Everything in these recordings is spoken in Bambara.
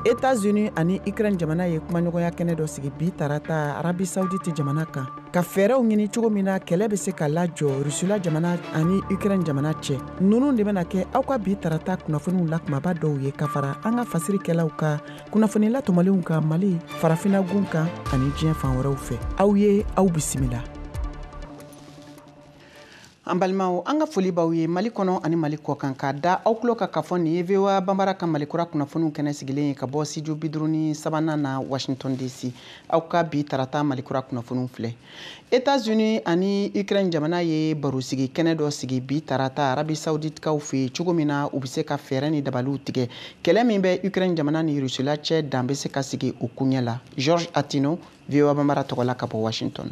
Etats-Unis ani Ukraine jamana ye kumaɲɔgɔnya kɛnɛ dɔ sigi bi tarata Arabie Saoudite jamana kan ka fɛɛrɛw ɲini cogo min na kɛlɛ bɛ se ka lajɔ Rusula jamana ani Ukraine jamana cɛ. Ninnu de bɛna kɛ aw ka bi tarata kunnafoniw la kumaba dɔw ye ka fara an ka fasirikɛlaw ka kunnafoni latɔmɔlenw kan Mali, farafinagun kan ani diɲɛ fan wɛrɛw fɛ. Aw ye aw bisimila. an balimaw an ka foli b'aw ye mali kɔnɔ ani mali kɔkan k'a da aw tulo kan k'a fɔ nin ye voa banbara ka malikura kunnafoniw kɛnɛ sigilen ye ka bɔ studio biduuru ni sabanan na washington dc aw ka bi tarata malikura kunnafoniw filɛ etats unis ani ukraine jamana ye barosigi kɛnɛ dɔ sigi bi tarata arabi sauditikaw fɛ yen cogo min na u bɛ se ka fɛɛrɛ ni dabaliw tigɛ kɛlɛ min bɛ ukraine jamana ni rusila cɛ dan bɛ se ka sigi o kuɲɛ la georges attino voa banbara tɔgɔ la ka bɔ washington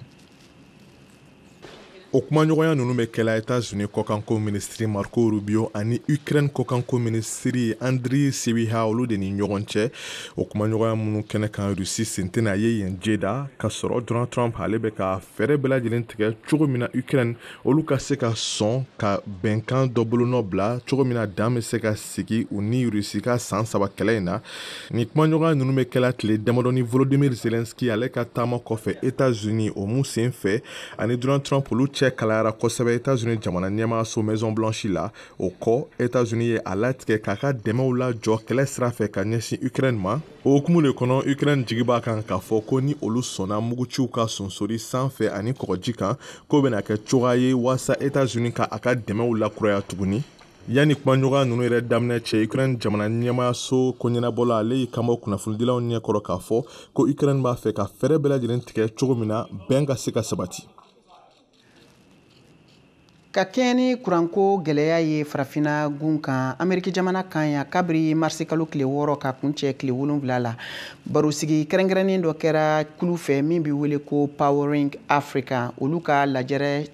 o kumaɲɔgɔnya ninnu bɛ kɛla etats-unis kɔkanko minisiri marco rubio ani ukraine kɔkanko minisiri andrii sybiha olu de ni ɲɔgɔn cɛ o kumaɲɔgɔnya minnu kɛnɛ kan rusi sen tɛna ye yen jeddah ka sɔrɔ donald trump ale bɛ ka fɛɛrɛ bɛɛ lajɛlen tigɛ cogo min na ukraine olu ka se ka sɔn ka bɛnkan dɔ bolonɔ bila cogo min na dan bɛ se ka sigi u ni rusi ka san saba kɛlɛ in na nin kumaɲɔgɔnya nunu be kɛla tile damadɔnin volodimir zelenski ale ka taama kɔfɛ etats unis o min sen fɛ a ni donald trump olu cɛ kalayara kosɛbɛ etats unis jamana ɲɛmaaso maison blanche la o kɔ etats unis ye a latigɛ k'a ka dɛmɛw lajɔ kɛlɛ sira fɛ ka ɲɛsin ukraine ma o hukumu le kɔnɔ ukraine jigi b'a kan k'a fɔ ko ni olu sɔnna muguciw ka sonsori san fɛ ani kɔgɔji kan k'o bena kɛ cogoya ye waasa etats unis ka a ka dɛmɛw lakuraya tuguni yanni kumaɲɔgɔnya ninnu yɛrɛ daminɛ cɛ ukraine jamana ɲɛmaaso ko ɲɛnabɔla ale y'i kan bɔ kunnafonidilaw ɲɛ kɔrɔ k'a fɔ ko ukraine b'a fɛ ka fɛɛrɛ bɛɛ lajɛlen tigɛ cogo min na bɛn ka se ka sabati ka kɛɲɛ ni kuranko gɛlɛya ye farafina gun kan ameriki jamana kan yan kabiri marisi kalo tile wɔɔrɔ ka kun cɛ tile wolonfila la barosigi kɛrɛnkɛrɛnnen dɔ kɛra kulu fɛ min bɛ wele ko powering africa olu ka lajɛrɛ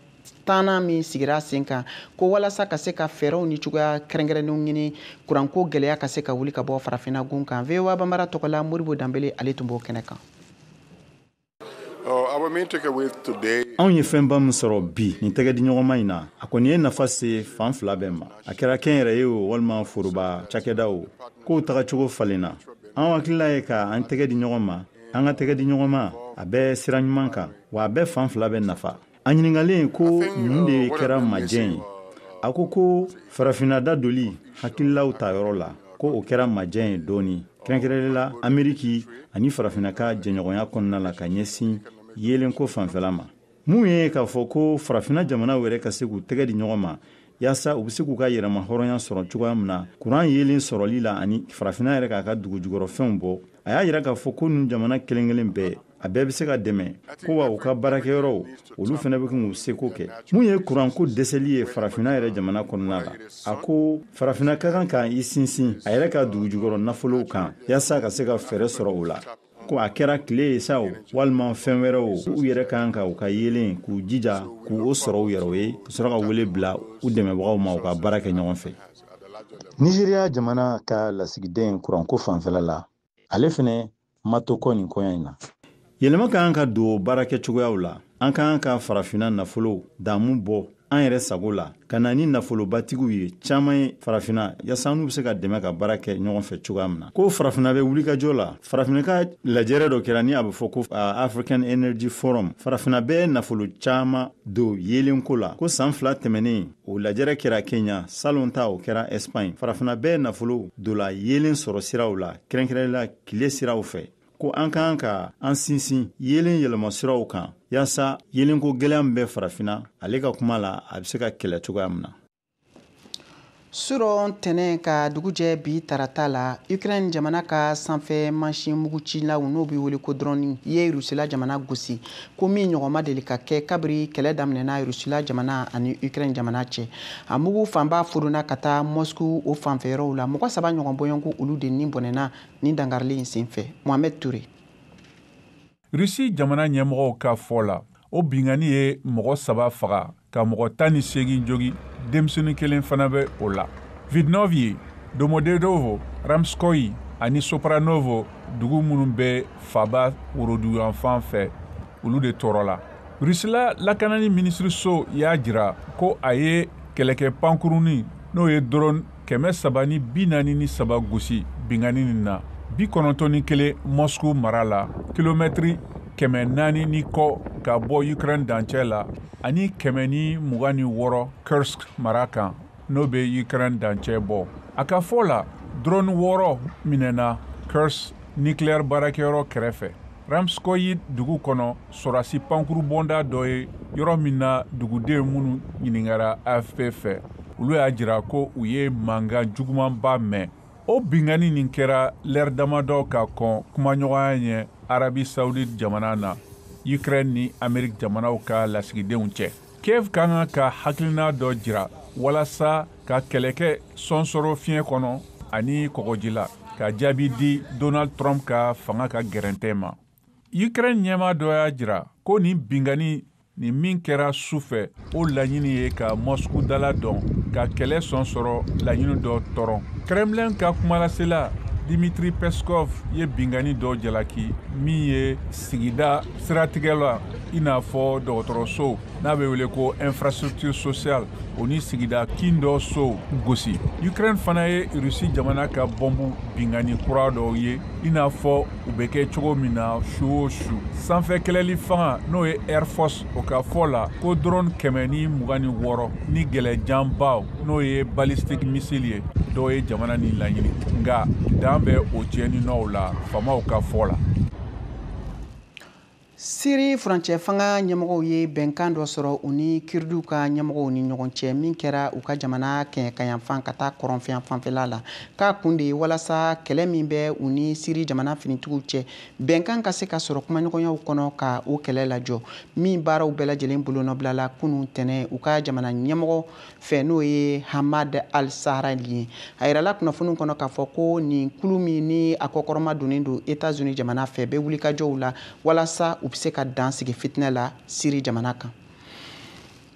tannan min sigira sen kan ko walasa ka se ka fɛɛrɛw ni cogoya kɛrɛnkɛrɛnnenw ɲini kuranko gɛlɛya ka se ka wuli ka bɔ farafinna gun kan voa banbara tɔgɔla modibo danbele ale tun b'o kɛnɛ kan Oh, our main takeaway today anw ye fɛnba min sɔrɔ bi nin tɛgɛdiɲɔgɔnma in na a kɔni ye nafa se fan fila bɛɛ ma a kɛra kɛnyɛrɛye o walima foroba cakɛda o kow tagacogo falenna an hakilila ye ka an tɛgɛ di ɲɔgɔn ma an ka tɛgɛ di ɲɔgɔn ma a bɛ sira ɲuman kan wa a bɛ fan fila bɛɛ nafa a ɲininkalen ko mun de kɛra majɛ ye a ko ko farafinna da doli hakililaw ta yɔrɔ la ko o kɛra majɛ ye dɔɔnin kɛrɛnkɛrɛnlen la ameriki ani farafinna ka jɛɲɔgɔnya kɔnɔna la ka ɲɛsin yeelenko fanfɛla ma min ye k'a fɔ ko farafinna jamanaw yɛrɛ ka se k'u tɛgɛ di ɲɔgɔn ma yaasa u bɛ se k'u ka yɛrɛma hɔrɔnya sɔrɔ cogoya min na kuran yeelen sɔrɔli la ani farafina yɛrɛ k'a ka dugujukɔrɔfɛnw bɔ a y'a jira k'a fɔ ko nin jamana kelen kelen bɛɛ a bɛɛ bɛ se ka dɛmɛ ko wa u ka baarakɛyɔrɔw olu fana bɛ k'u seko kɛ mun ye kuranko dɛsɛli ye farafina yɛrɛ jamana kɔnɔna la a ko farafina ka kan ka i sinsin a yɛrɛ ka dugujukɔrɔ nafolow kan yaasa ka se ka fɛɛrɛ sɔrɔ o la ko a kɛra tile ye sa o walima fɛn wɛrɛ o u yɛrɛ kan ka u ka yeelen k'u jija k'u o sɔrɔ u yɛrɛ ye ka sɔrɔ ka wele bila u dɛmɛbagaw ma u ka baara kɛ ɲɔgɔn fɛ nizeriya jamana ka lasigiden kuranko fanfɛla la ale fɛnɛ ma to kɔ nin koɲɛ in na yɛlɛma ka kan ka don baara kɛ cogoyaw la an kan ka farafina nafolo damu bɔ an yɛrɛ sago la ka na ni nafolobatigiw ye caaman ye farafina yaasa n'u be se ka dɛmɛ ka baara kɛ ɲɔgɔn fɛ cogoya min na ko farafina be wulikajɔ la farafina ka lajɛrɛ dɔ kɛra ni a be fɔ ko african energy forum farafina bɛ nafolo caaman don yeelen ko la ko san fila tɛmɛnen o lajɛrɛ kɛra kenya salon ta o kɛra ɛsipaɲi farafina bɛ nafolo don la yeelen sɔrɔ siraw la kɛrɛnkɛrɛnla kile siraw fɛ ko an kan ka an sinsin yeelen yɛlɛmasiraw kan yaasa yeelenko gwɛlɛya min bɛ farafina ale ka kuma la a bɛ se ka kɛlɛ cogoya min na surɔ ntɛnɛn ka dugujɛ bi tarata la ukraine jamana ka sanfɛ mansin mugucilaw n'o bɛ wele ko dɔrɔni ye rusila jamana gosi ko min ɲɔgɔn ma deli ka kɛ kabiri kɛlɛ daminɛna rusila jamana ani ukraine jamana cɛ a mugu fanba fodonna ka taa moscou o fanfɛyɔrɔw la mɔgɔ saba ɲɔgɔn bɔɲɔgɔnko olu de ni bɔnɛna Nin dankarili in senfɛ, Mohamed Toure. Russie jamana ɲɛmɔgɔw ka fɔ la, o binkanni ye mɔgɔ saba faga ka mɔgɔ tan ni seegin jogi, denmisɛnnin kelen fana bɛ o la. Vidnovye, Domodedovo, Ramskoyi ani Sopranovo dugu minnu bɛ faaba woroduguyanfan fɛ, olu de tɔɔrɔla. Rusila lakanani minisiriso y'a jira ko a ye kɛlɛkɛ pankurunnin n'o ye drone kɛmɛ saba ni bi naani ni saba gosi binkanni nin na bi kɔnɔntɔn ni kelen mɔsku mara la kilomɛtiri kɛmɛ naani ni kɔ ka bɔ ukraine dancɛ la ani kɛmɛ ni mugan ni wɔɔrɔ kursk mara kan n'o bɛ ukraine dancɛ bɔ a ka fɔ la drone wɔɔrɔ minɛna kursk nucléaire baarakɛyɔrɔ kɛrɛfɛ ramskoyi dugu kɔnɔ sɔrasi pankurubɔnda dɔ ye yɔrɔ min na duguden minnu ɲininkara afp fɛ olu y'a jira ko u ye mankan jugumanba mɛn o binkanni nin kɛra lɛri damadɔ ka kɔn kumaɲɔgɔnya ɲɛ arabi saudi jamana na ukraine ni amerique jamanaw ka lasigidenw cɛ kiev ka kan ka hakilina dɔ jira walasa ka kɛlɛkɛ sɔnsɔrɔ fiɲɛ kɔnɔ ani kɔgɔji la ka jaabi di donald trump ka fanga ka gɛrɛntɛ ma ukraine ɲɛmaa dɔ y'a jira ko nin bingani nin min kɛra su fɛ o laɲini ye ka moscou dala dɔn ka kɛlɛ sɔnsɔrɔ laɲini dɔ tɔrɔ kremlin ka kumalasela dimitri peskov ye bingani dɔ jalaki min ye sigida siratigɛ la i n'a fɔ dɔgɔtɔrɔsow n'a bɛ wele ko infrastructure sociale o ni sigida kin dɔ sow gosi ukraine fana ye rusi jamana ka bɔnbu bingani kura dɔw ye i n'a fɔ u bɛ kɛ cogo min na su o su sanfɛ kɛlɛli fanga n'o ye air force o ka fɔ la ko drone kɛmɛ ni mugan ni wɔɔrɔ ni gɛlɛjanbaw n'o ye ballistic missile ye dɔw ye jamana ni laɲini nka dan bɛ o tiɲɛni nɔw la faamaw ka fɔ la Siri furancɛ fanga ɲɛmɔgɔw ye bɛnkan dɔ sɔrɔ u ni Kurdiw ka ɲɛmɔgɔw ni ɲɔgɔn cɛ min kɛra u ka jamana kɛɲɛkanyanfan ka taa kɔrɔnfɛn fanfɛla la k'a kun de walasa kɛlɛ min bɛ u ni siri jamana finitigiw cɛ bɛnkan ka se ka sɔrɔ kumaɲɔgɔnyaw kɔnɔ ka o kɛlɛ lajɔ min baaraw bɛɛ lajɛlen bolonɔbilala kunun tɛnɛn u ka jamana ɲɛmɔgɔ fɛ n'o ye ahmad al sharaa de ye a yirala kunnafoniw kɔnɔ k'a fɔ ko nin kulu min ni a kɔkɔrɔma donnen don etats unis jamana fɛ bɛ wulikajɔw la walasa u bɛ se ka dan sigi fitinɛ la siri jamana kan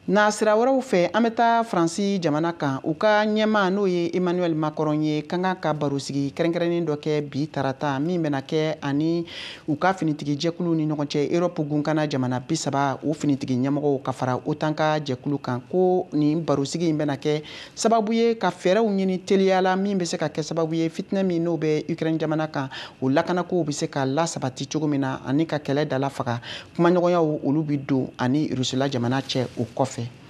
nasira wɛrɛw fɛ an bɛ taa faransi jamana kan u ka ɲɛmaa n'o ye emmanuel macron ye ka kan ka barosigi kɛrɛnkɛrɛnnen dɔ kɛ bi tarata min bɛna kɛ ani u ka finitigi jɛkuluw ni ɲɔgɔn cɛ Europe gunkana jamana bi saba o finitigi ɲɛmɔgɔw ka fara OTAN ka jɛkulu kan ko nin barosigi in bɛna kɛ sababu ye ka fɛɛrɛw ɲini teliya la min bɛ se ka kɛ sababu ye fitinɛ min n'o bɛ Ukraine jamana kan o lakanakow bɛ se ka lasabati cogo min na ani ka kɛlɛ dalafaga kumaɲɔgɔnyaw olu bɛ don ani Rusila jamana cɛ o kɔfɛ.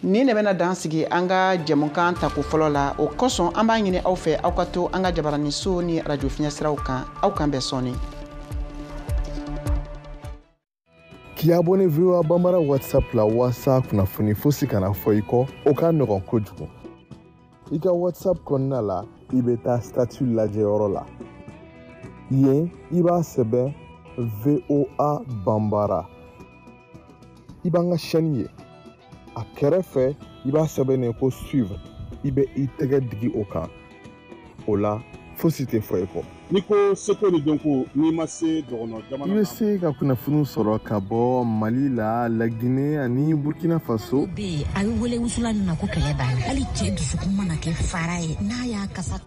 nin de bɛna dan sigi an ka jɛmukan tako fɔlɔ la o kosɔn an b'a ɲini aw fɛ aw ka to an ka jabarani so ni arajo fiɲɛ siraw kan aw k'an bɛn sɔɔni k'i abonné voa bambara whatsapp la walasa kunnafoni fosi kana fɔ i kɔ o ka nɔgɔn kojugu i ka whatsapp kɔnɔna la i bɛ taa statut lajɛyɔrɔ la yen i b'a sɛbɛn voa bambara i b'an ka chaîne ye a kɛrɛfɛ i b'a sɛbɛnnen ko suivre i bɛ i tɛgɛ digi o kan o la fosi tɛ fɔ i kɔ n'i ko seko ni dɔnko n'i ma se dɔgɔnɔ jamana i bɛ se ka kunnafoniw sɔrɔ ka bɔ mali la lagine ani burkina faso bɛ yen a bɛ wele wusulan min ma ko kɛlɛ banna hali cɛ dusukun mana kɛ fara ye n'a y'a kasa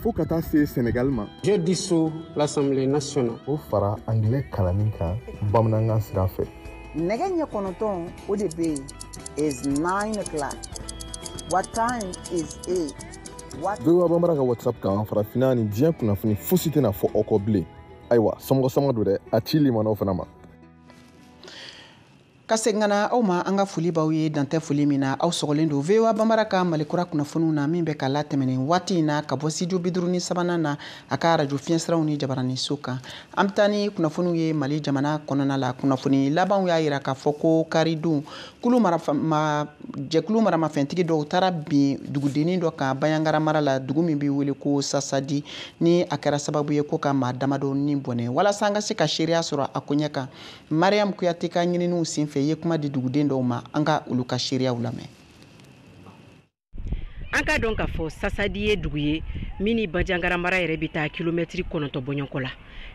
fo ka taa se senegal ma je dissous l'assemblée nationale o fara anglais kalanni kan bamanankan sira fɛ nɛgɛ ɲɛ kɔnɔntɔn o de bɛ yen is 9 o'clock what time is it voa banbara ka whatsapp kan farafinna ni diɲɛ kunnafoni fosi tɛna fɔ aw kɔ bilen ayiwa somɔgɔ sama don dɛ a ci limanaw fana ma ka segin ka na aw ma an ka foli b'aw ye dantɛ foli min na aw sɔgɔlen don voa banbara ka mali kura kunnafoniw na min bɛ ka latɛmɛ nin waati in na ka bɔ studio biduuru ni sabanan na a ka arajo fiɲɛsiraw ni jabarani so kan an bɛ taa ni kunnafoniw ye mali jamana kɔnɔna la kunnafoni labanw y'a yira k'a fɔ ko karidon kunun jɛkulu maramafɛntigi dɔw taara bin dugudennin dɔ kan banjagara mara la dugu min bɛ wele ko sasadi ni a kɛra sababu ye ko ka maa damadɔ ni bɔnɛ walasa an ka se ka seereya sɔrɔ a koɲɛ kan mariam kuyate ka ɲininiw senfɛ ye kuma di duguden dɔw ma an ka olu ka seereyaw lamɛn an k'a dɔn k'a fɔ sasadi ye dugu ye min ni banjagara mara yɛrɛ bɛ taa kilomɛtiri kɔnɔntɔn bɔɲɔgɔnko la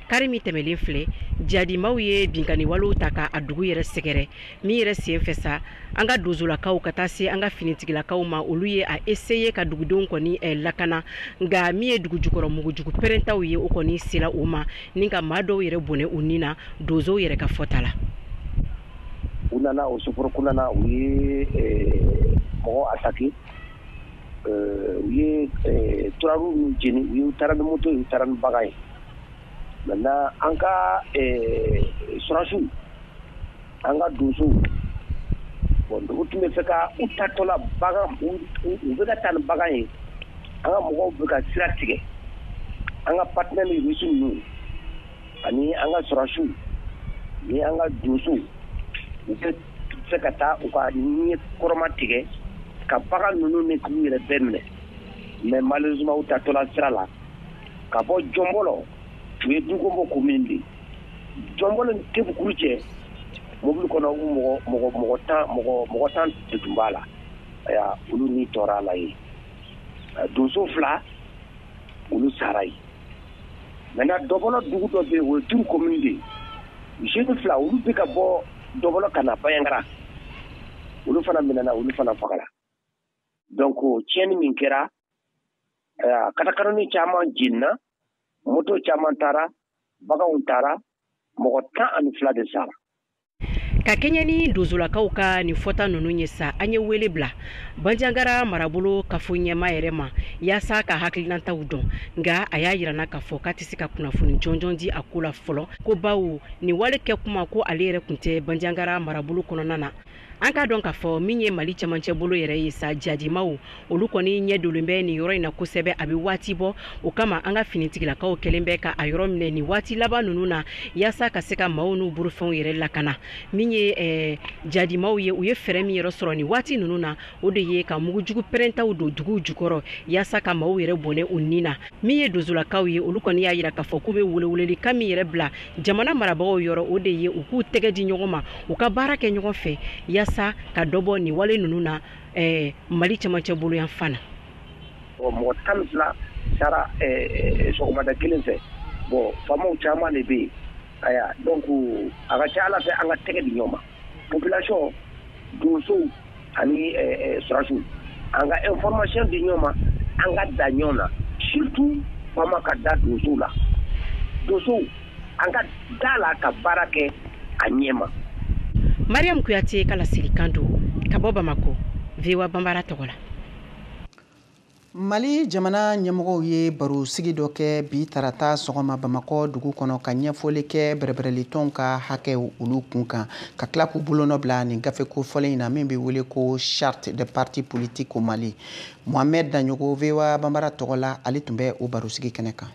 kari min tɛmɛlen filɛ jadimaw ye binkanniwalew ta ka a dugu yɛrɛ sɛgɛrɛ min yɛrɛ sen fɛ sa an ka donsolakaw ka taa se an ka finitigilakaw ma olu ye a eseye ka dugudenw kɔni eh, lakana nka min ye dugu jukɔrɔ mugujugu pɛrɛntaw ye o kɔni sera o ma ni ka maa dɔw yɛrɛ bɔnɛ u ni na donsow yɛrɛ ka fɔta la u nana o suforokun na u ye mɔgɔ attaqué u ye turabu ninnu jeni u ye u taara ni moto ye u taara ni bagan ye maintenant an ka sɔrɔdasiw an ka donsow bon u tun bɛ fɛ ka u taatɔla bagan u bɛka taa ni bagan ye an ka mɔgɔw bɛ ka sira tigɛ an ka partenaires russes ninnu ani an ka sɔrɔdasiw ni an ka donsow u bɛ se ka taa u ka ɲɛ kɔrɔma tigɛ ka bagan ninnu ni k'u yɛrɛ bɛɛ minɛ mais malheureusement u taatɔla sira la ka bɔ jɔnbɔlɔ o ye dukonbɔ commune de jɔnbɔlɔ ni tebukuru cɛ mobili kɔnɔ mɔgɔ mɔgɔ tan mɔgɔ tan de tun b'a la ayiwa olu ni tora a la yen donso fila olu sara yen maintenant dɔbɔlɔ dugu dɔ bɛ o ye duru commune de jeunes fila olu bɛ ka bɔ dɔbɔlɔ ka na banjagara olu fana minɛna olu fana fagara donc tiɲɛni min kɛra katakatanin caman jenina moto caman taara baganw taara mɔgɔ tan ani fila de sara ka kɛɲɛ ni donsolakaw ka nin fɔta ninnu ye sa an ye wele bila banjangara marabolo kafo ɲɛmaa yɛrɛ ma yaasa ka hakilinataw dɔn nka a y'a yira an na k'a fɔ k'a tɛ se ka kunnafoni jɔnjɔn di a ko la fɔlɔ ko bawo nin wale kɛ kuma ko ale yɛrɛ kun tɛ banjangara marabolo kɔnɔna na an k'a dɔn k'a fɔ min ye mali camancɛ bolo yɛrɛ ye sa jadimaw olu kɔni ɲɛ dolen bɛ nin yɔrɔ in na kosɛbɛ a bɛ waati bɔ o kama an ka finitigilakaw kɛlen bɛ ka a yɔrɔ minɛ nin waati laban ninnu na yaasa ka se ka maaw n'u bolofɛnw yɛrɛ lakana min ye eh, jadimaw ye u ye fɛɛrɛ min yɛrɛ sɔrɔ nin waati ninnu na o de ye ka mugujugu pɛrɛntaw don duguw jukɔrɔ yaasa ka maaw yɛrɛ bɔnɛ u ni na min ye donsolakaw ye olu kɔni y'a yira k'a fɔ k'u bɛ weleweleli kan min yɛrɛ bila jamana marabagaw yɔrɔ o de ye u k'u tɛgɛ di ɲɔgɔn ma u ka baara kɛ ɲɔgɔn fɛ yaasa ka dɔ bɔ nin wale ninnu na ɛɛ mali cɛmancɛ bolo yan fan na ɔ mɔgɔ tan ni fila sara sɔgɔmada kelen fɛ bon faamaw caman de bɛ yen aya donc a ka ca ala fɛ an ka tɛgɛ di ɲɔgɔn ma population donsow ani surasiw an ka information di ɲɔgɔn ma an ka da ɲɔgɔn na surtout faama ka da donsow la donsow an ka da la ka baara kɛ a ɲɛ ma mariam kuyate ka laselikan don ka bɔ bamakɔ voa banbara tɔgɔ la mali jamana ɲɛmɔgɔw ye baro sigi dɔ kɛ bi tarata sɔgɔma bamakɔ dugu kɔnɔ ka ɲɛfɔli kɛ bɛrɛbɛrɛlitɔnw ka hakɛw olu kun kan ka tila k'u bolonɔ bila nin gafe kofɔlen in na min bɛ wele ko charte des partis politiques au mali mohamɛd daɲɔgɔ voa banbara tɔgɔ la ale tun bɛ o barosigi kɛnɛ kan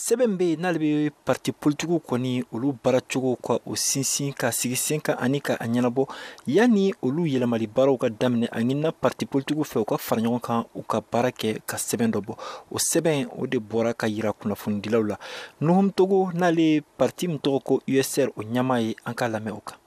sɛbɛn bɛ yen n'ale bɛ parti politikiw kɔni olu baaracogo ka o sinsin k'a sigi sen kan ani ka a ɲɛnabɔ yanni olu yɛlɛmali baaraw ka daminɛ a ɲinina parti politikiw fɛ u ka fara ɲɔgɔn kan u ka baara kɛ ka sɛbɛn dɔ bɔ o sɛbɛn o de bɔra ka yira kunnafonidilaw la nuhum togo n'ale parti min tɔgɔ ko usr o ɲɛmaa ye an k'a lamɛn o kan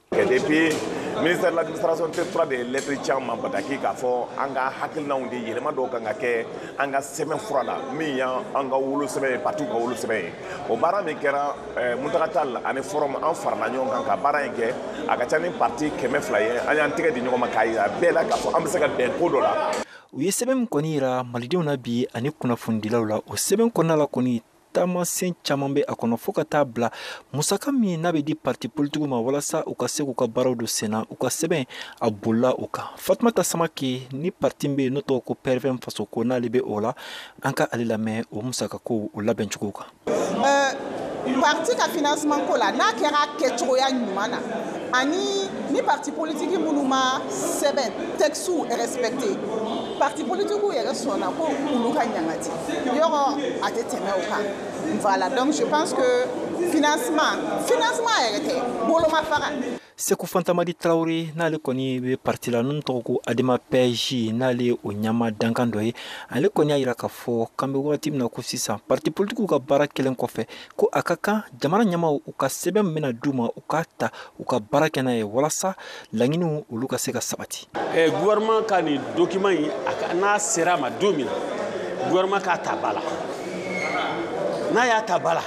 ministère de l'administration territoriale de ye lɛtiri ci an ma bataki k'a fɔ an ka hakilinaw di yɛlɛma dɔw kan ka kɛ an ka sɛbɛn fura la min y'an ka wolo sɛbɛn ye partiw ka wolo sɛbɛn ye o baara min kɛra eh, muntaga tal ani forum an farala ɲɔgɔn kan ka baara in kɛ a ka ca ni parti kɛmɛ fila ye an y'an tɛgɛ di ɲɔgɔn ma k'a yira bɛɛ la k'a fɔ an bɛ se ka bɛn ko dɔ la u ye sɛbɛn min kɔni yira malidenw na bi ani kunnafonidilaw la o sɛbɛn kɔnɔna la kɔni taamasen caman bɛ a kɔnɔ fɔɔ ka taa bila musaka min n'a bɛ di parti politikiw ma walasa u ka se k'u ka baaraw don senna u ka sɛbɛn a bolila o kan fatumata samake ni parti bɛ yen n'o tɔgɔ ko prvm faso ko n'ale bɛ o la an ka ale lamɛn o musakako o labɛncogo kan parti ka financement ko la n'a kɛra kɛcogoya ɲuman na ani ni parti politiki minnu ma sɛbɛn textew respecte parti politikiw yɛrɛ sɔnna ko olu ka ɲangati yɔrɔ a tɛ tɛmɛ o kan voilà donc je pense que financement financement yɛrɛ tɛ bolomafara seku fantamadi tarawele n'ale kɔni bɛ parti la n'o tɔgɔ ko adema pɛji n'ale ye o ɲɛmaa dankan dɔ ye ale kɔni y'a yira k'a fɔ k'an bɛ wagati min na ko sisan parti politikiw ka baara kɛlen kɔfɛ ko a ka kan jamana ɲɛmaaw u ka sɛbɛn min bɛna d'u ma u k'a ta u ka baara kɛ n'a ye walasa laɲiniw olu ka se ka sabati eh, gouvernement ka nin document in n'a sera ma don min na gouvernement k'a ta ba la n'a y'a ta ba la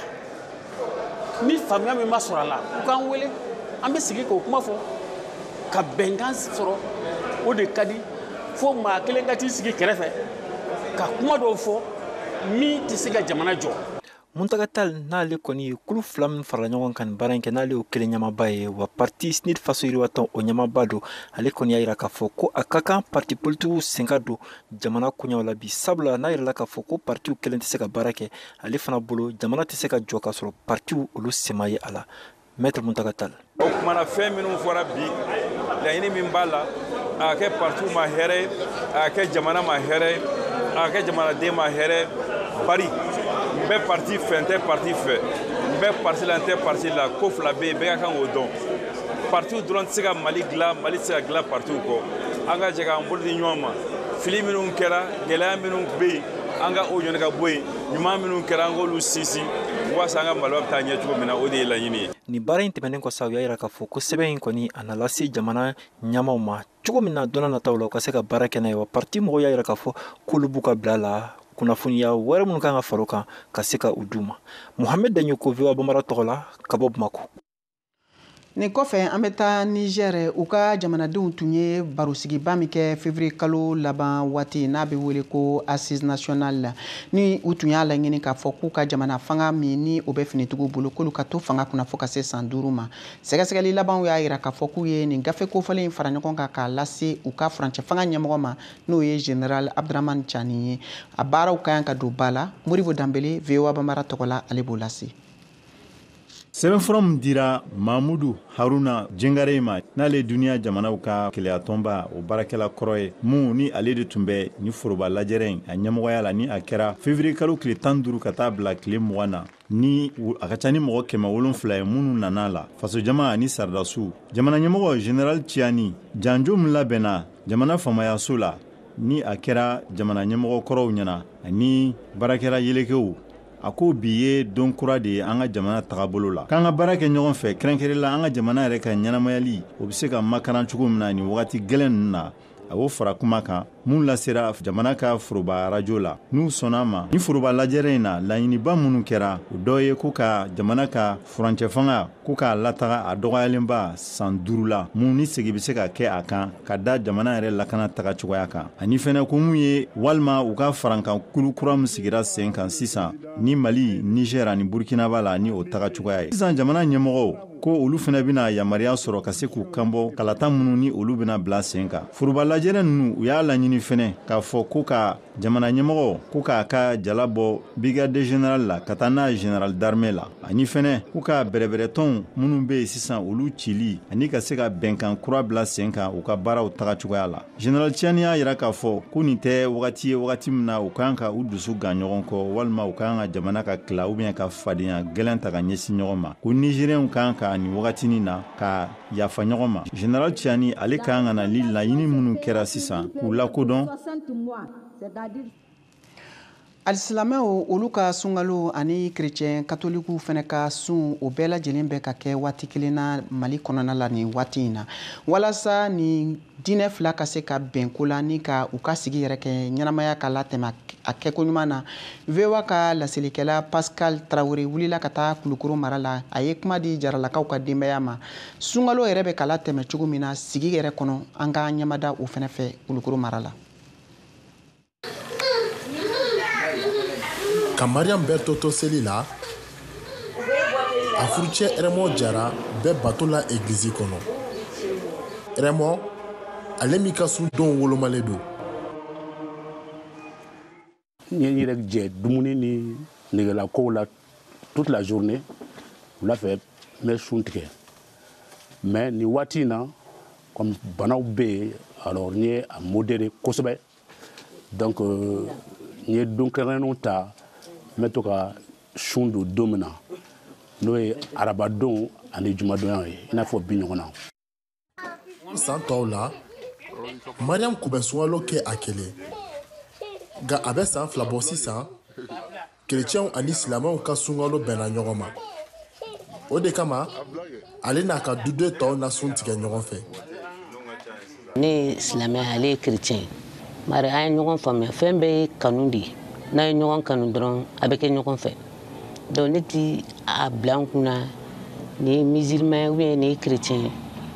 ni faamuya min ma sɔrɔ a la u k'an wele an bɛ sigi k'o kuma fɔ ka bɛnkan sɔrɔ o de ka di fo maa kelen ka t'i sigi kɛrɛfɛ ka kuma dɔw fɔ min tɛ se ka jamana jɔ Muntaga Tal n'ale kɔni kulu fila min farala ɲɔgɔn kan nin baara in kɛ n'ale y'o kelen ɲɛmaaba ye wa pati CNID faso yiriwatɔn o ɲɛmaaba don ale kɔni y'a yira k'a fɔ ko a ka kan pati politigiw sen ka don jamana koɲɛw la bi sabula n'a yirala k'a fɔ ko patiw kelen tɛ se ka baara kɛ ale fana bolo jamana tɛ se ka jɔ k'a sɔrɔ patiw olu sen ma ye a la maître muntaga tal o kuma na fɛn minnu fɔra bi laɲini min b'a la a ka kɛ partiw ma hɛrɛ ye a ka kɛ jamana ma hɛrɛ ye a ka kɛ jamanaden ma hɛrɛ bari n bɛ parti fɛ n tɛ parti fɛ n bɛ parti la n tɛ parti la ko fila bɛ yen bɛɛ ka kan k'o dɔn partiw dɔrɔn tɛ se ka mali dilan mali tɛ se ka dilan partiw kɔ an ka jɛ k'an bolo di ɲɔgɔn ma fili minnu kɛra gɛlɛya minnu bɛ yen an ka o ɲɔni ka bɔ yen ɲuman minnu kɛra an k'olu sinsin waasa an ka maliba bɛ taa ɲɛ cogo min na o de ye laɲini ye nin baara in tɛmɛnen kɔ sa u y'a yira k'a fɔ ko sɛbɛn in kɔni a na lase jamana ɲɛmaaw ma cogo min na don nataw la u ka se ka baara kɛ n'a ye wa parti mɔgɔw y'a yira k'a fɔ k'olu b'u ka bila la kunnafoniya wɛrɛ minnu ka kan ka fara o kan ka se ka u d'u ma mohamɛd daɲoko voa banbara tɔgɔ la ka bɔ bamako Nin kɔfɛ an bɛ taa Niger u ka jamanadenw tun ye barosigiba min kɛ février kalo laban waati n'a bɛ wele ko assise nationale la ni u tun y'a laɲini k'a fɔ k'u ka jamana fanga min ni o bɛ finitigiw bolo k'olu ka to fanga kunna fo ka se san duuru ma sɛgɛsɛgɛli labanw y'a yira k'a fɔ k'u ye nin gafe kofɔlen in fara ɲɔgɔn kan k'a lase u ka furancɛ fanga ɲɛmɔgɔ ma n'o ye general Abdramane Tchani ye a baaraw ka kan ka don ba la Modibo Danbele VOA Banbara tɔgɔ la ale b'o lase sɛbɛnfura min dira mamudu haruna jengarey ma n'ale ye duniɲa jamanaw ka kelenyatɔnba o baarakɛla kɔrɔ ye mun ni ale de tun bɛ ni foroba lajɛrɛ in a ɲɛmɔgɔya la ni a kɛra fevriye kalo tile tan ni duuru ka taa bila tile mugan na ni a ka ca ni mɔgɔ kɛmɛ wolonfila ye minnu nana la fasojama ani saradasiw jamana ɲɛmɔgɔ general ciani janjo min labɛnna jamana faamayaso la ni a kɛra jamana ɲɛmɔgɔ kɔrɔw ɲɛna ani baarakɛla yelekew a ko bi ye don kura de ye an ka jamana tagabolo la k'an ka baara kɛ ɲɔgɔn fɛ kɛrɛnkɛrɛn la an ka jamana yɛrɛ ka ɲɛnamayali o bɛ se ka makaran cogo min na nin wagati gɛlɛn ninnu na a y'o fara kuma kan minnu lasera jamana ka foroba arajo la n'u sɔnna a ma ni foroba lajɛrɛ in na laɲiniba minnu kɛra o dɔ ye ko ka jamana ka furancɛ fanga ko k'a lataga a dɔgɔyalenba san duuru la mun ni segi bɛ se ka kɛ a kan ka da jamana yɛrɛ lakana taga cogoya kan ani fɛnɛ ko mun ye walima u ka farankan kulu kura min sigira sen kan sisan ni mali niger ani burkina b'a la ni o taga cogoya ye sisan jamana ɲɛmɔgɔw ko olu fɛnɛ bɛna yamaruya sɔrɔ ka se k'u kanbɔ kalata minnu ni olu bɛna bila sen kan foroba lajɛrɛ ninnu u y'a laɲini fɛnɛ k'a fɔ ko ka jamana ɲɛmɔgɔ ko k'a ka jala bɔ brigade general la ka taa n'a general d'armee la ani fɛnɛ ko ka bɛrɛbɛrɛtɔnw minnu bɛ yen sisan olu cili ani ka se ka bɛnkan kura bila sen kan u ka baaraw taga cogoya la general tiani y'a yira k'a fɔ ko nin tɛ wagati ye wagati min na u kan ka u dusu gan ɲɔgɔn kɔ walima u kan ka jamana ka kila ou bien ka fadenya gɛlɛn ta ka ɲɛsin ɲɔgɔn ma ko nizeriyɛnw kan ka nin wagatinin na ka yafa ɲɔgɔn ma general tiani ale kan ka na ni laɲini minnu kɛra sisan k'u lakodɔn alisilamɛw olu ka sunkalo ani kerecɛn katolikiw fɛnɛ ka sun o bɛɛ lajɛlen bɛ ka kɛ waati kelen na mali kɔnɔna la nin waati in na walasa nin diinɛ fila ka se ka bɛn ko la ni ka u ka sigi yɛrɛ kɛ ɲɛnamaya ka latɛmɛ a kɛko ɲuman na voa ka laselikɛla pascal traore wulila ka taa kulukoro mara la a ye kuma di jaralakaw ka denbaya ma sunkalo yɛrɛ bɛ ka latɛmɛ cogo min na sigi yɛrɛ kɔnɔ an k'an ɲɛmada o fɛnɛ fɛ kulukoro mara la ka mariam berthe to seli la a furucɛ raymond jara bɛ bato la egilizi kɔnɔ raymond ale min ka sun donw wolomalen don n ye n yɛrɛ jɛ dumuni ni negelakow la toute la journée wula fɛ n bɛ sun tigɛ mais nin waati in na comme banaw bɛ yen alors n ye a modéré kosɛbɛ donc euh, n ye don kɛrɛnkɛrɛnnenw ta n bɛ to ka sun don don min na n'o ye arabadon ani jumadonya ye i n'a fɔ bi ɲɔgɔn na san tɔw la mariam kun bɛ sunkalo kɛ a kelen nka a bɛ san fila bɔ sisan kerecɛnw ani silamɛw ka sunkalo bɛnna ɲɔgɔn ma o de kama ale n'a ka duden tɔw na sun tigɛ ɲɔgɔn fɛ ne ye silamɛ ye ale ye kerecɛn ye bari an ye ɲɔgɔn faamuya fɛn bɛɛ ye kanu de ye n'a ye ɲɔgɔn kanu dɔrɔn a bɛ kɛ ɲɔgɔn fɛ donc ne ti a bila n kunna nin ye musulman ou bien nin ye chrétien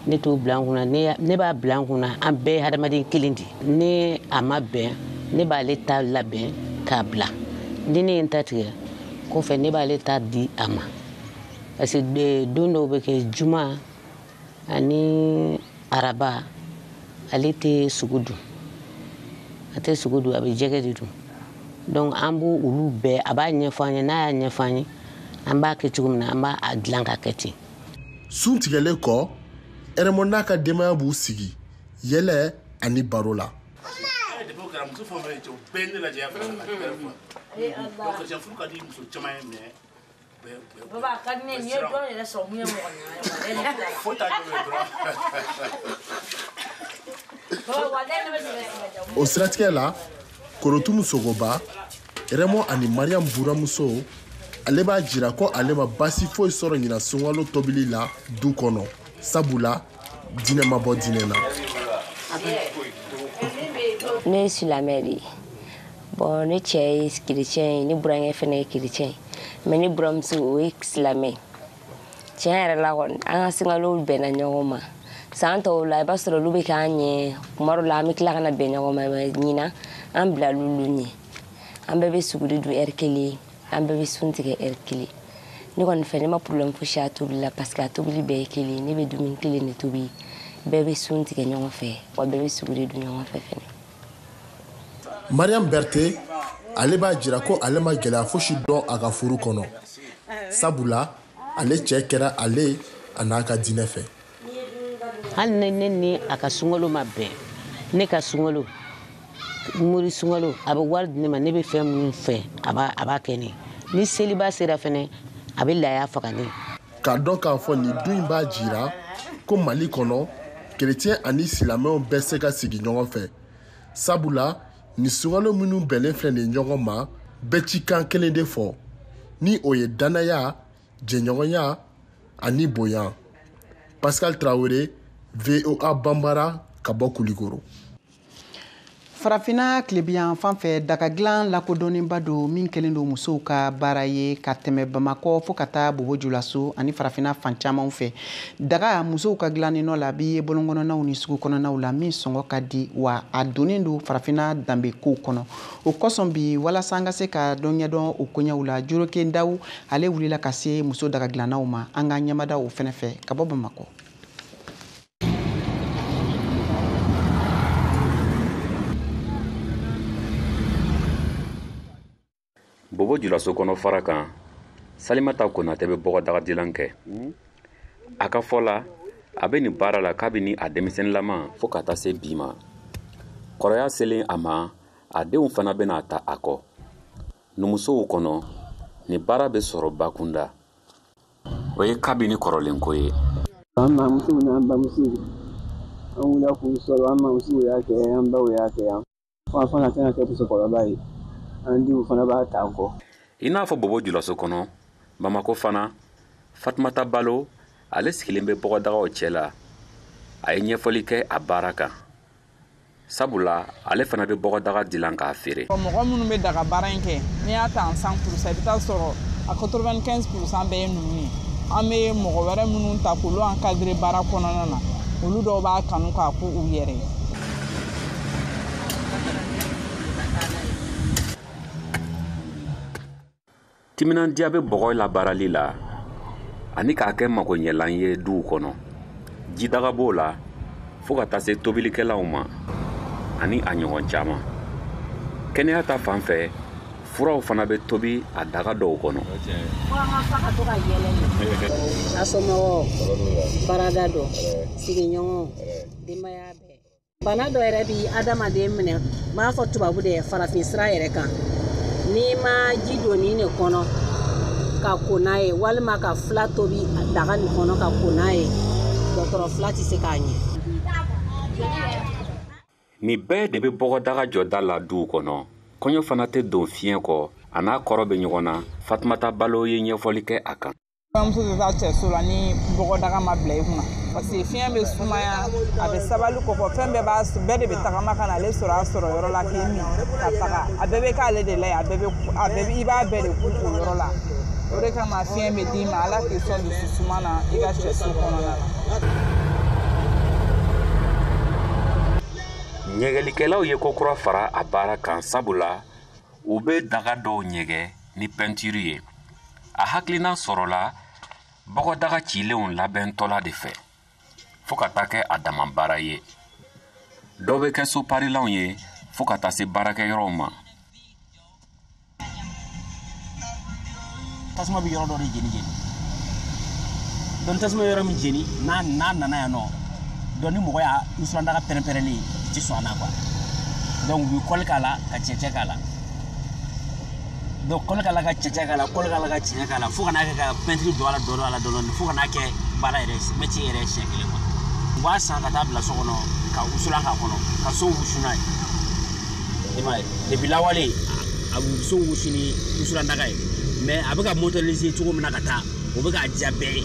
ne t'o bila n kunna ne b'a bila n kunna an bɛɛ ye hadamaden kelen de ni a ma bɛn ne b'ale ta labɛn k'a bila ni ne ye n ta tigɛ kɔfɛ ne b'ale ta di a ma parce que don dɔw bɛ kɛ juma ani araba ale tɛ sogo dun a tɛ sogo dun a bɛ jɛgɛ de dun donc an b'o olu bɛɛ a b'a ɲɛfɔ an ye n'a y'a ɲɛfɔ an ye an b'a kɛ cogo min na an b'a dilan ka kɛ ten sun tigɛlen kɔ ɛrɛmɔ n'a ka denbaya b'u sigi yɛlɛ ani baro la Baba a ka di ne ye n'i ye dɔn yɛrɛ sɔrɔ mun ye mɔgɔ ɲɛna fo ta jɔ dɔrɔn o siratigɛ la korotumu sogoba rɛmɔ ani mariyam buramuso ale b'a jira ko ale ma basi foyi sɔrɔ ɲina sunkalo tobili la du kɔnɔ sabula diinɛ ma bɔ diinɛ na ne ye silamɛ de ye bon ne cɛ ye chrétien ye ne burankɛ fɛnɛ ye chrétien ye mais ne buramuso o ye silamɛ tiɲɛ yɛrɛ la kɔni an ka sunkalo bɛnna ɲɔgɔn ma san tɔw la i b'a sɔrɔ olu bɛ k'an ɲɛ kuma dɔ la an bɛ tila ka na bɛn ɲɔgɔn ma mais ɲinan an bilala olu ɲɛ an bɛɛ bɛ suguri dun heure kelen an bɛɛ bɛ sun tigɛ heure kelen ne kɔni fɛ ne ma problème fosi a tobili la parce que a tobili bɛɛ ye kelen ne bɛ dumuni kelen de tobi bɛɛ bɛ sun tigɛ ɲɔgɔn fɛ wa bɛɛ bɛ suguri dun ɲɔgɔn fɛ fɛnɛ mariyam berte ale b'a jira ko ale ma gɛlɛya fosi dɔn a ka furu kɔnɔ sabula ale cɛ kɛra ale a n'a ka diinɛ fɛ hali ne ne ni a ka sunkalo ma bɛn ne ka sunkalo mori sunkalo a bɛ wari di ne ma ne bɛ fɛn minnu fɛ a b'a kɛ ne ni seliba sera fɛnɛ a bɛ laya faga ne k'a dɔn k'a fɔ nin du in b'a jira ko mali kɔnɔ kerecɛn ani silamɛw bɛ se ka sigi ɲɔgɔn fɛ sabula nin sunkalo minnu bɛnnen filɛ nin ɲɔgɔn ma bɛ cikan kelen de fɔ ni o ye dannaya jɛɲɔgɔnya ani bonya pascal tarawele voa banbara ka bɔ kulikoro farafinna tilebinyan fan fɛ daga dilan lakodɔnnenba don min kɛlen don musow ka baara ye ka tɛmɛ bamakɔ fo ka taa bobo julaso ani farafinna fan camanw fɛ daga musow ka dilannen nɔ la bɛ ye bɔlɔnkɔnɔnaw ni sugu kɔnɔnaw la min sɔngɔ ka di wa a donnen don farafinna danbe kow kɔnɔ o kosɔn bi walasa an ka se ka dɔ ɲɛdɔn o koɲɛw la joroke daw ale wulila ka se muso daga dilannaw ma an ka ɲɛmada o fɛnɛ fɛ ka bɔ bamakɔ bobo julaso kɔnɔ farakan salimata konatɛ bɛ bɔgɔdagadilan kɛ a ka fɔ la a bɛ nin baara la kabini a denmisɛnninlama fo ka taa se bi ma kɔrɔya selen a ma a denw fana bɛna a ta a kɔ numusow kɔnɔ nin baara bɛ sɔrɔ bakunda o ye kabini kɔrɔlen ko ye an mamuso n'an bamuso an wulila k'u sɔrɔ an mamuso y'a kɛ an baw y'a kɛ yan an fana tɛna kɛ musokɔrɔba ye an denw fana b'a ta an kɔ i n'a fɔ bobo julaso kɔnɔ bamakɔ fana fatumata balo ale sigilen bɛ bɔgɔdagaw cɛ la a ye ɲɛfɔli kɛ a baara kan sabula ale fana bɛ bɔgɔdaga dilan k'a feere mɔgɔ minnu bɛ daga baara in kɛ n'i y'a ta en 100 pour cent i bɛ taa sɔrɔ a 95 pour cent bɛɛ ye numu ye an bɛ mɔgɔ wɛrɛ minnu ta k'olu encadrer baara kɔnɔna na olu dɔw b'a kanu k'a k'u yɛrɛ ye timinandiya bɛ bɔgɔ labaarali la ani k'a kɛ magoɲɛlan ye duw kɔnɔ jidaga b'o la fɔɔ ka taa se tobilikɛlanw ma ani a ɲɔgɔn caman kɛnɛya ta fan fɛ furaw fana bɛ tobi a daga dɔw kɔnɔ a somɔgɔw baarada dɔ sigiɲɔgɔnw denbaya bɛɛ bana dɔ yɛrɛ bi adamaden minɛ n m'a fɔ tubabu dɛ farafin sira yɛrɛ kan n'i ma ji don nin de kɔnɔ ka ko n'a ye walima ka fila tobi daga nin kɔnɔ ka ko n'a ye dɔgɔtɔrɔ fila tɛ se k'a ɲɛ nin bɛɛ de bɛ bɔgɔdaga jɔda la duw kɔnɔ kɔɲɔ fana tɛ don fiɲɛ kɔ a n'a kɔrɔ bɛ ɲɔgɔn na fatumata balo ye ɲɛfɔli kɛ a kan Bamuso tɛ taa cɛso la ni bɔgɔdaga ma bila i kunna parce que fiɲɛ bɛ sumaya a bɛ sabali kɔfɛ fɛn bɛɛ b'a bɛɛ de bɛ tagama ka na ale sɔrɔ a sɔrɔ yɔrɔ la k'i min ka taga a bɛɛ bɛ k'ale de la yen a bɛɛ bɛ a bɛɛ bɛ i b'a bɛɛ de k'u o yɔrɔ la o de kama fiɲɛ bɛ d'i ma ala k'i sɔn dusu suma na i ka cɛso kɔnɔna na. ɲɛgɛlikɛlaw ye ko kura fara a baara kan sabula u bɛ daga dɔw ɲɛgɛn ni pɛntiri ye a hakilina sɔrɔla bɔgɔdaga cilenw labɛntɔla de fɛ fo ka taa kɛ a dama baara ye dɔ bɛ kɛ soparilanw ye fo ka taa se baarakɛyɔrɔw ma tasuma bɛ yɔrɔ dɔ de jeni jeni donc tasuma yɔrɔ min jeni n'a n'a nana yan nɔ donc ni mɔgɔ y'a wusulandaga pɛrɛnpɛrɛnlen ti sɔn a na quoi donc u bɛ kɔli k'a la ka cɛncɛn k'a la donc kɔli k'a la ka cɛncɛn k'a la kɔli k'a la ka cɛncɛn k'a la fo ka n'a kɛ ka pɛntiri don a la dɔɔni a la dɔɔni fo ka n'a kɛ baara yɛrɛ mɛti yɛrɛ siɲɛ kelen quoi u b'a san ka taa bila so kɔnɔ ka wusulan k'a kɔnɔ ka so wusu n'a ye i m'a ye depuis lawale a so wusu ni wusulandaga ye mais a bɛ ka moderniser cogo min na ka taa o bɛ k'a diya bɛɛ ye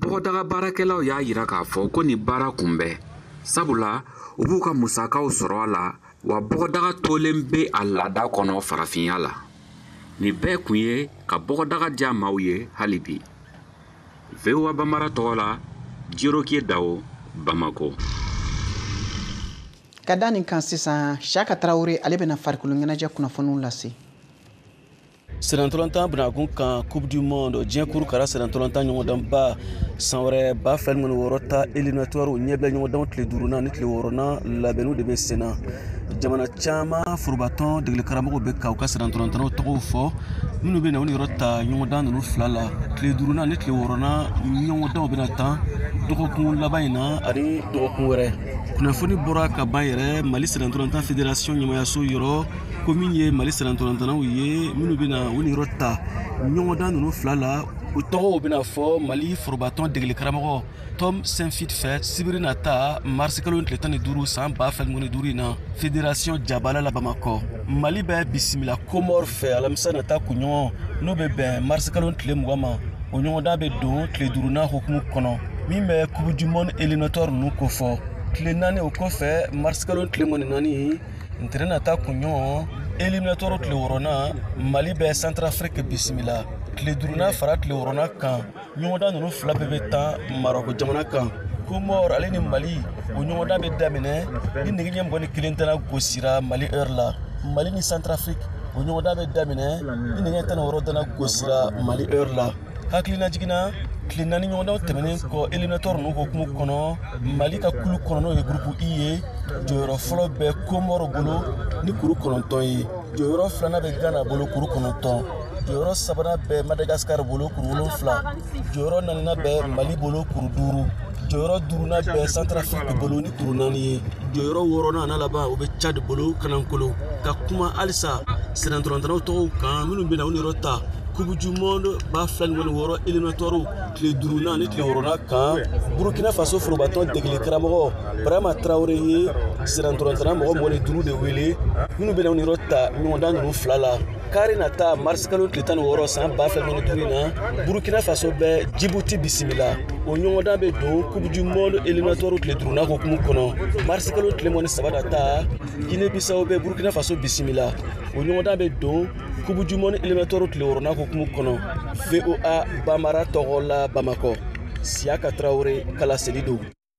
bɔgɔdaga baarakɛlaw y'a yira k'a fɔ ko nin baara kun bɛ sabula u b'u ka musakaw sɔrɔ a la wa bɔgɔdaga tolen bɛ a laada kɔnɔ farafinya la nin bɛɛ kun ye ka bɔgɔdaga diya maaw ye hali bi voa banbara tɔgɔ la jirokiye dawo bamako ka da nin kan sisan siyaka tarawele ale bɛna farikolo ɲɛnajɛ kunnafoniw lase sennantolatan bɛnakun kan coupe du monde diɲɛ kuru kara sennantolatan ɲɔgɔndanba san wɛrɛ ba fila ni mugan ni wɔɔrɔ ta éliminatoire ɲɛbila ɲɔgɔndanw tile duurunan ni tile wɔɔrɔnan labɛnniw de bɛ sen na jamana caman forobatɔn degelikaramɔgɔw bɛ ka u ka sennantolatannaw tɔgɔw fɔ minnu bɛna u niyɔrɔ ta ɲɔgɔndan ninnu fila la tile duurunan ni tile wɔɔrɔnan ɲɔgɔndanw bɛna tan dɔgɔkun laban in na ani dɔgɔkun wɛrɛ kunnafoni bɔra ka ban yɛrɛ mali sennantolatan fédération ɲɛmaayaso yɔrɔ ko min ye mali sennantolatannaw ye minnu bɛna u niyɔrɔ ta ɲɔgɔndan ninnu fila la u tɔgɔw bɛna fɔ mali forobatɔn degeli karamɔgɔ tom saintfiet fɛ sibiri nata marisikalo tile tan ni duuru san ba fila ni mugan ni duuru in na federasiyɔn jabala la bamakɔ mali bɛ bisimila komɔr fɛ alamisa nata kunɲɔgɔn n'o bɛ bɛn marisikalo tile mugan ma o ɲɔgɔndan bɛ don tile duurunan hukumu kɔnɔ min bɛ coupe du monde éliminatoire ninnu kofɔ tile naani o kɔfɛ marisikalo tile mugan ni naani ntɛnɛn nata kunɲɔgɔn éliminatoire tile wɔɔrɔnan mali bɛ santarafiriki bisimila tile duurunan fara tile wɔɔrɔnan kan ɲɔgɔndan ninnu fila bɛɛ bɛ tan marɔko jamana kan komɔr ale ni mali o ɲɔgɔndan bɛ daminɛ ni nɛgɛ ɲɛ mugan ni kelen tɛna gosira mali heure la mali ni santarafiriki o ɲɔgɔndan bɛ daminɛ ni nɛgɛ ɲɛ tan ni wɔɔrɔ tɛna gosira mali heure la hakilinajigin na tile naani ɲɔgɔndanw tɛmɛnen kɔ éliminatoire ninnu hukumu kɔnɔ mali ka kulu kɔnɔ n'o ye gurupu i ye jɔyɔrɔ fɔlɔ bɛ komɔr bolo ni kuru kɔnɔntɔn ye jɔyɔrɔ filanan bɛ gana bolo kuru kɔnɔntɔn jɔyɔrɔ sabanan bɛ madagasikari bolo kuru wolonfila jɔyɔrɔ naaninan bɛ mali bolo kuru duuru jɔyɔrɔ duurunan bɛ santarafiriki bolo ni kuru naani ye jɔyɔrɔ wɔɔrɔnan n'a laban o bɛ cadi bolo kanankolo ka kuma halisa sennantolatannaw tɔgɔw kan minnu bɛna u niyɔrɔ ta coupe du monde ba fila ni mugan ni wɔɔrɔ éliminatoirew tile duurunan ani tile wɔɔrɔnan kan burukina faso forobatɔn degeli karamɔgɔ barama tarawele ye sennantolatanna mɔgɔ mugan ni duuru de wele minnu bɛna u niyɔrɔ ta ɲɔgɔndan ninnu fila la kari nata marisi kalo tile tan ni wɔɔrɔ san ba fila ni mugan ni duuru in na burukina faso bɛ jibuti bisimila o ɲɔgɔndan bɛ don coupe du monde éliminatoire tile duurunan hukumu kɔnɔ marisi kalo tile mugan ni saba nata gine bisawo bɛ burukina faso bisimila o ɲɔgɔndan bɛ don coupe du monde éliminatoire tile wɔɔrɔnan hukumu kɔnɔ voa bambara tɔgɔ la bamakɔ siyaka tarawele ka laseli don